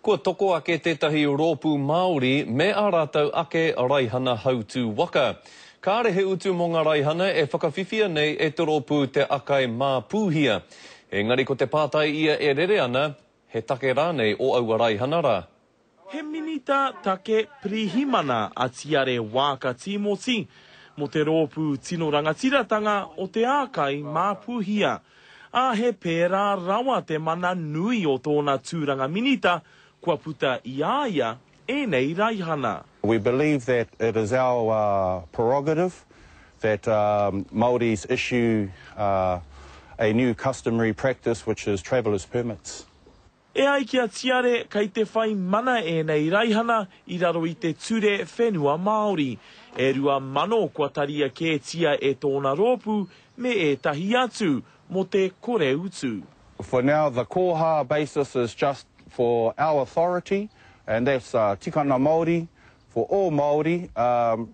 Kua toko ake tētahi rōpū Māori me ā rātou ake raihana hautū waka. Kāre he utu mō ngā raihana e whakawhiwhia nei e te rōpū Te Akai Māpūhia. Engari ko te pātai ia e rere ana, he take rānei o aua raihana rā? He Minita Take Pirihimana a Tiare Waaka Tīmoti mō te rōpū Tino Rangatiratanga o Te Akai Māpūhia. ā, he pērā rawa te mana nui o tōna tūranga minita kua puta i a ia ēnei raihana. We believe that it is our prerogative that Māoris issue a new customary practice which is traveller's permits. E ai ki a Tiare, kei te whai mana ēnei raihana i raro i te Ture Whenua Māori. E rua mano kua taria kētia e tōna rōpū me ētahi atu, mō te kore utu. For now the koha basis is just for our authority and that's Tikanga Māori for all Māori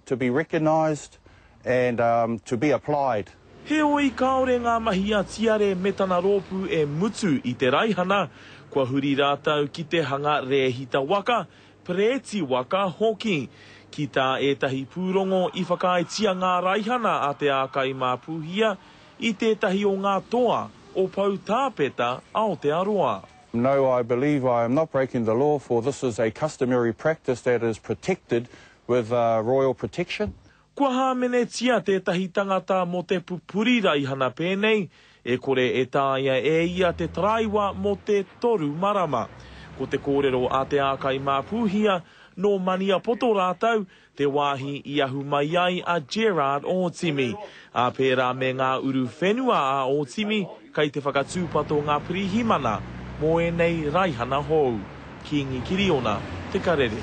to be recognised and to be applied. Heoi, kāore ngā mahi a Tiare me tana rōpū e mutu i te raihana, kua huri rātou ki te hanga rēhita waka, perēti waka, hoki. Ki tā ētahi pūrongo i whakaaetia ngā raihana a Te Ākai mā Pūhia i tētahi o ngā toa o Poutāpeta, Aotearoa. No I believe I am not breaking the law for this is a customary practice that is protected with royal protection. Kua hāmenetia tētahi tangata mō te pupuri raihana pēnei, e kore e taea e ia te taraiwa mō te toru marama. Ko te kōrero a Te Ākai Māpūhia, nō Maniapoto rātou, te wāhi i ahu mai ai a Gerard Ōtimi. Ā pērā me ngā uru whenua a Ōtimi, kei te whakatūpato ngā pirihimana mō ēnei raihana hou. Kīngi Kiriona, Te Karere.